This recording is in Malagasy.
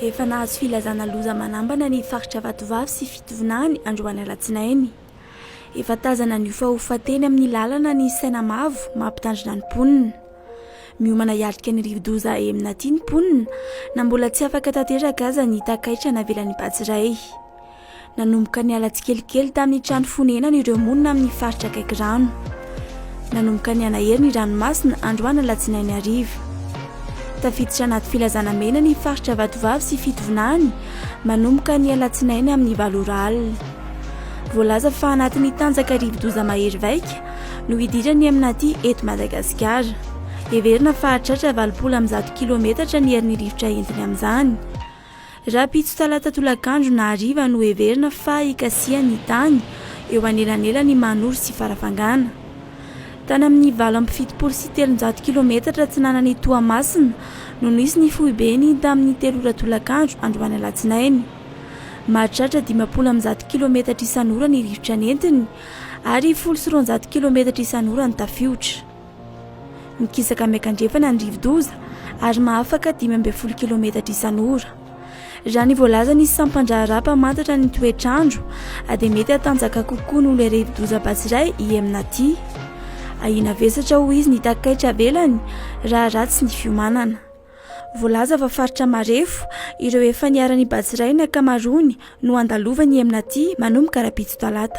Efa nahazo filazana loza manambana ny faritra Vatovavy sy Fitovinany androany alatsinainy. Efa tazana niofahofa teny amin'ny lalana ny saina mavo mampitandrina ny mponina. Miomana hiatrika ny rivodoza Emina ity ny mponina na mbola tsy afaka tanteraka aza ny takaitra navelan'ny Bajy iray. Nanomboka niala tsikelikely tamin'ny trano fonenany ireo monina amin'ny faritra akaiky rano. Nanomboka nianahery ny ranomasina androana alatsinainy hariva. Tafiditra anaty filazana mena ny faritra Vatovavy sy Fitovinany manomboka ny alatsinainy amin'ny valo ora alina. Voalaza fa anatin'ny tanjaka rivodoza mahery vaika no hidirany amin'aty eto Madagasikara. Heverina fa hahatratra valopolo amin'ny zato kilometatra ny herin'ny rivotra entiny amin'izany. Rahampitso talata tolakandro na hariva no heverina fa hikasiha ny tany eo anelanelan'i Manoro sy Farafangana. Tany amin'ny valo amby fitopolo sy telonjato kilometatra atsinanan'i Toamasina no nisy ny foibeny tamin'ny telo ora tolakandro androany alatsinainy. Mahatratra dimampolo amby zato kilometatra isan'ora ny rivotra nentiny ary folo sy roanjato kilometatra isan'ora ny tafiotra. Mikisaka miankandrefana ny rivodoza ary mahafaka dimy ambin'ny folo kilometatra isan'ora. Raha ny voalazan'ny sampan-draharaha mpamantatra ny toetr'andro dia mety hatanjaka kokoa noho ilay rivodoza Batsirai i Emnati. Ahiana vesatra hoy izy ny takaitra avelany raha ratsy ny fiomanana. Voalaza fa faritra marefo ireo efa niharan'i Batsirai ny ankamaroany no handalovan'i Emnati manomboka rahampitso talata.